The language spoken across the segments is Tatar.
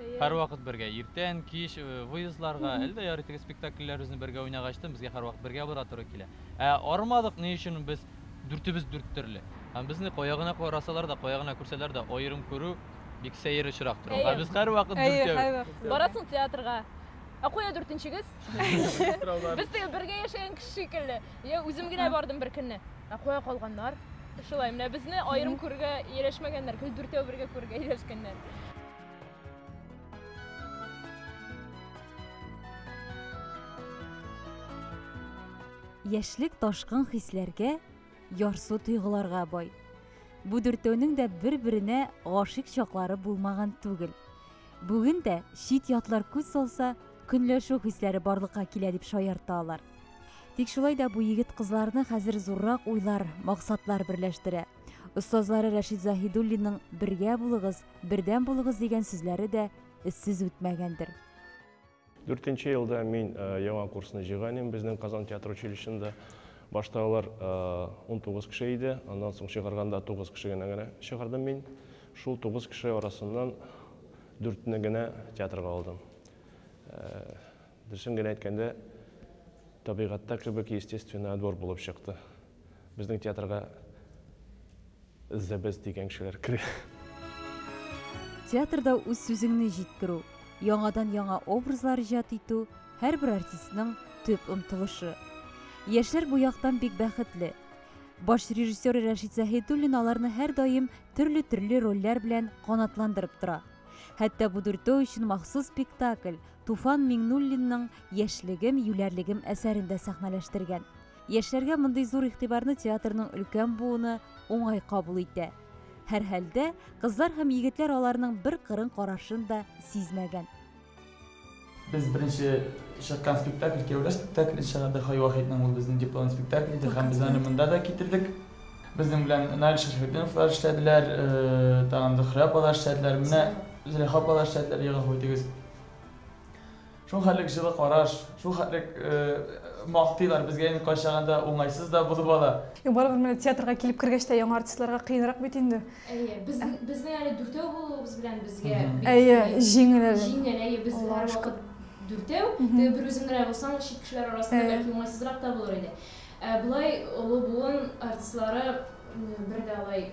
Әйе. Һәрвакыт бергә, иртән, кич, выездларга, әле дә ярый теге спектакльләребезне бергә уйнагач тын, безгә һәрвакыт бергә бара туры килә. Ә арымадык ни өчен без дүртебез дүрт төрле. Һәм безне кая гына карасалар да, кая гына күрсәләр дә, аерым күрү бик сәер очрак тора. Әйе. Ә без һәрвакыт Әйе, дүртәү. һәрвакыт бергә. Барасың театрга, ә кая дүртенчегез? Без теге бергә яшәгән кеше шикелле. Я үзем генә бардым беркөнне. Ә кая калганнар? Шулай, менә безне аерым күрергә ияләшмәгәннәр, гел дүртәү бергә күрергә ияләшкәннәр. Яшьлек ташкын хисләргә, ярсу тойгыларга бай. Бу дүртәүнең дә бер-беренә гашыйк чаклары булмаган түгел. Бүген дә чит ятлар күз салса, көнләшү хисләре барлыкка килә дип шаярта алар. Тик шулай да бу егет кызларны хәзер зуррак уйлар, максатлар берләштерә. Остазлары Рәшид Заһидуллинның Бергә булыгыз, Бердәм булыгыз дигән сүзләре дә эзсез үтмәгәндер. Дүртенче елда мин э, яңа курсны җыйган идем безнең Казан театр училищесында. Башта алар 19 э, кеше иде, аннан соң чыгарганда 9 кеше генә генә чыгардым мин. Шул 9 кеше арасыннан дүртне генә театрга алдым. Э, Дөресен генә әйткәндә, табигатьтә кебек естественный отбор булып чыкты. Безнең театрга Зәбез дигән кешеләр керә. Театрда үз сүзеңне җиткерү, яңадан яңа образлар иҗат итү, һәрбер артистның төп омтылышы. Яшьләр бу яктан бик бәхетле. Баш режиссер Рәшит Заһидуллин аларны һәрдаим төрле-төрле рольләр белән канатландырып тора. Хәтта бу дүртәү өчен махсус спектакль Туфан Миңнуллинның Яшьлегем, юләрлегем әсәрен дә сәхнәләштергән. Яшьләргә мондый зур игътибарны театрның өлкән буыны уңай кабул итә. Һәрхәлдә, кызлар һәм егетләр аларның бер кырын карашын да сизмәгән. Без беренче чыккан спектакль кияүләр спектакле чыгарды. Хай Вахитның ул безнең диплом спектакль иде һәм без аны монда да китердек. Безнең белән Наил Шәрәфетдиновлар эшләделәр, тагын Зөхрә апалар эшләделәр. Менә Зөләйха апалар эшләделәр, ягъ, әфу итегез. Шул хәтлек җылы караш, шул хәтлек мактыйлар безгә инде кайчагын да уңайсыз да булып ала. Барыбер менә театрга килеп кергәч тә яңа артистларга кыенрак бит инде. Әйе, без, безнең әле дүртәү булуыбыз белән безгә бик Әйе, җиңел әле. Җиңел, әйе, без һәрвакыт дүртәү. Теге бер үзем генә булсам, чит кешеләр арасында бәлки уңайсызрак та булыр иде. Ә болай олы буын артистлары бер дә алай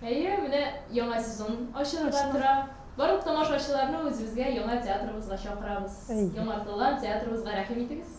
Әйе, менә яңа сезон ачылырга тора. Барлык тамашачыларны үзебезгә, яңа театрыбызга чакырабыз. Яңартылган театрыбызга рәхим итегез.